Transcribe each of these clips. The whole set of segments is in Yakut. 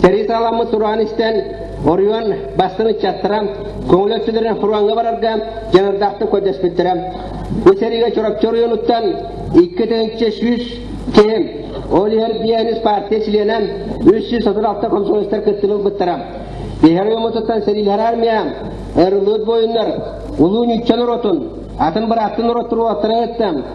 Сэрии-саҕаламмыт тураан истэн, хоруйан бастыҥ ыччаттара көҥүл өттүлэрин Хурааҥҥа барарга дьаныардаахтык көрдөспүттэрэ. Бу сэриигэ Чурапчы оройуонуттан икки тыһыынча сүүс киһи, ол иһин биэһинис партия чилиэнэ үс сүүс отут алта комсомолецтар кыттыны ылбыттара. Иһэр оройуонуттан сэриилэһэр армия, ырылыыт буойуннар, улуу ньучча норуотун, атын бырааттын норуот туруулаттарын ыытта,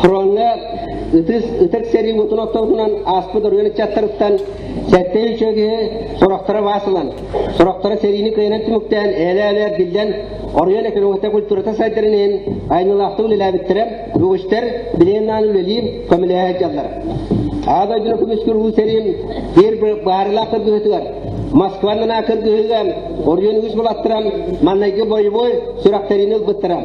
Хроҥҥа ытыс ытык сэрии мутун отторгунан ааспыт оройуон ыччаттарыттан сэттэ үчүө киһи сорохторо баас ылан, сорохторо сэриини кыайынан түмүктээн ээлээ-ээлээр биллэн, оройуон экономиката культурата сайдарын иһин айнылаахтык үлэлээбиттэрэ, үгүстэр билиэннаан үлэлии көмөлөһө сылдьаллар. Ааа дойдуну күмүскүр уу сэриим биир баарылаах кыргыһытыгар Москваннана кыргыһыган оройуон үгүс булаттарам маннайгы бойобой сүрэхтерини ылбыттарам.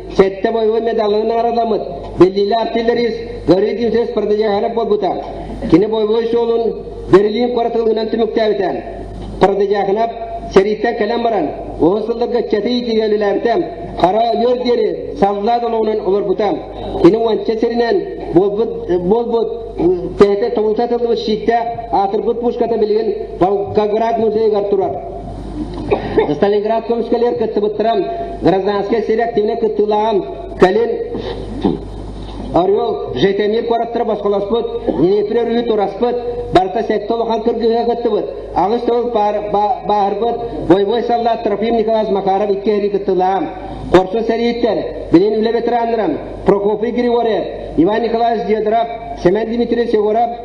Сэттэ боевой медалын аараламыт. Биллиилэ артиллерист Горыдин сес продавиһара буолбута. Кини боевой суолун Берлин куоратылыынан түмүктээбитэ. Продавиһанап сэрииттэн кэлэн баран, оҕо сылларга чэтий тигэлилэртэн хара өлөр диэри саллаа долонун олорбута. Кини уонча сиринэн буолбут тээте тобулта тыллыбыт щиитте аатырбыт пушката билигин Волгоград музейыгар турар. Сталинград көмүскэлэр кыттыбыттарым гражданскай сир активнай кыттыылааҕым Калин Орел Жетемир куораттары босхолоспут, Днепр өрүһү тураспыт, барыта сэттэ улахан кыргыһыга кыттыбыт, аҕыс төгүл бааһырбыт, бойобуой саллаат Трофим Николаевич Макаров икки эрий кыттыылаам. Хорсун сэрииттэр, билин үлэ ветераннарым Прокопий Григорьев, Иван Николаевич Дедоров, Семен Дмитриевич Егоров,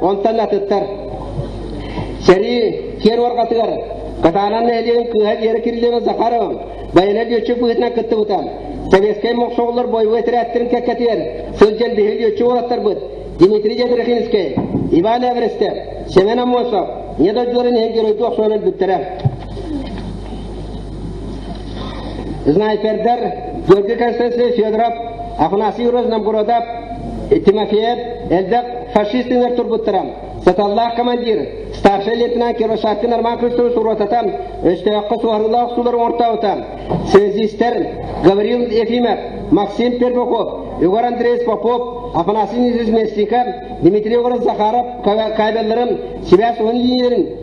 Онтон атыттар. Сэрии киэр уорҕатыгар Катанан нэһилиэгин кыыһа Вера Кириллова Захарова байана лүөччү быһыытынан кыттыбытам. Советскай мохсоҕоллор бойобуой терээттэрин кэккэтигэр сылдьан биһиги лүөччү уолаттарбыт Дмитрий Дьэбирихинскэй, Иван Эверестер, Семен Амосов, недодьуорин иһин геройдуу охсуон өлбүттэрэ. Снайпердар Георгий Константинович Федоров, Афанасий Юрьевич Намгородов, Тимофеев элбэх фашистинер турбуттара. Саталлаах командир, старший лейтенант Кировшатин Арман Кристович уруотатан, өстөөхкө суһарылаах сулар оңортаабыта. Связистер Гаврил Ефимов, Максим Пермаков, Егор Андреевич Попов, Афанасий Низович Местников, Дмитрий Егорович Захаров кабелларын, себя суһан линияларын,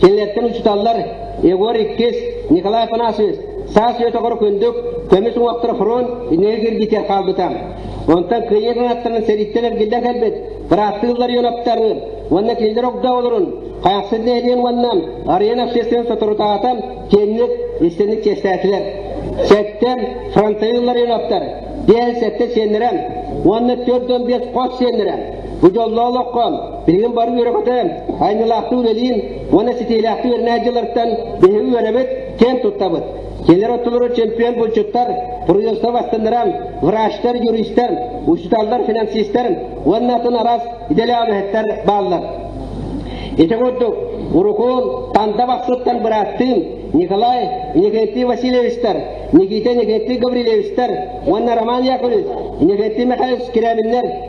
Кинилэртэн учуталлар Егор иккис, Николай Афанасьевич саас үөтөҕөр күндүк көмүс уҥуохтар фронт инэйэ киргитиэр хаалбыта. Онтон кыйы кыңаттарын сэриттэн эргиллэн кэлбит бырааттыы Ларионовтарын уонна кинилэр огда олорун хайахсыр нэһилиэн уонна арена общественен соторутаатан киэнник истинник чэстээтилэр. Сэттэн фронтайы Ларионовтар биэһин сэттэ сиэннэрэн уонна төрт он бес хос сиэннэрэн Бу дьоллоох олоххон, билигин бары үөрэхтэн, айнылаахтыы үлэлиин уонна ситиилээхтик үөрэнэ дьылларыттан биһиги үөрэнэбит, киэн туттабыт. Кэлэр оттолоро чемпион булчуттар, профессор бастыннарам, врачтар, юристтар, учууталлар, финансистар уонна атын араас идэлээбэһэттэр бааллар. Ити курдук, урукун Танда бахсыттан бырааттыын Николай Николай Васильевичтар, Никита Николай Гаврилевичтар уонна Роман Яковлевич Николай Михайлович Киряминнар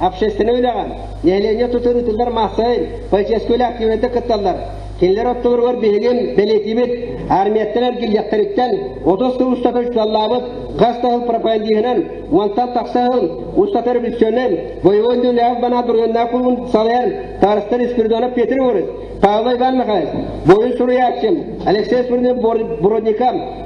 общественнай үлэҕэ, нэһилиэнньэ тутар ыытыллар массайын, полицейскийлээх киинэтэ кытталлар. Кинилэр оттолоругар биһигин бэлиэтиибит армияттан эргиллиэхтэриттэн отус сыл устата учуотталлаабыт газ таһыл пропагандиһынан уонтан тахса сыл устата революционнай боевой дьүүллээх банаат бургуннаах клубун салайар Тарастан Спиридонов Петр Егорович, Павел Иван Михайлович, боевой суруйааччым Алексей Сурнин Бородникам,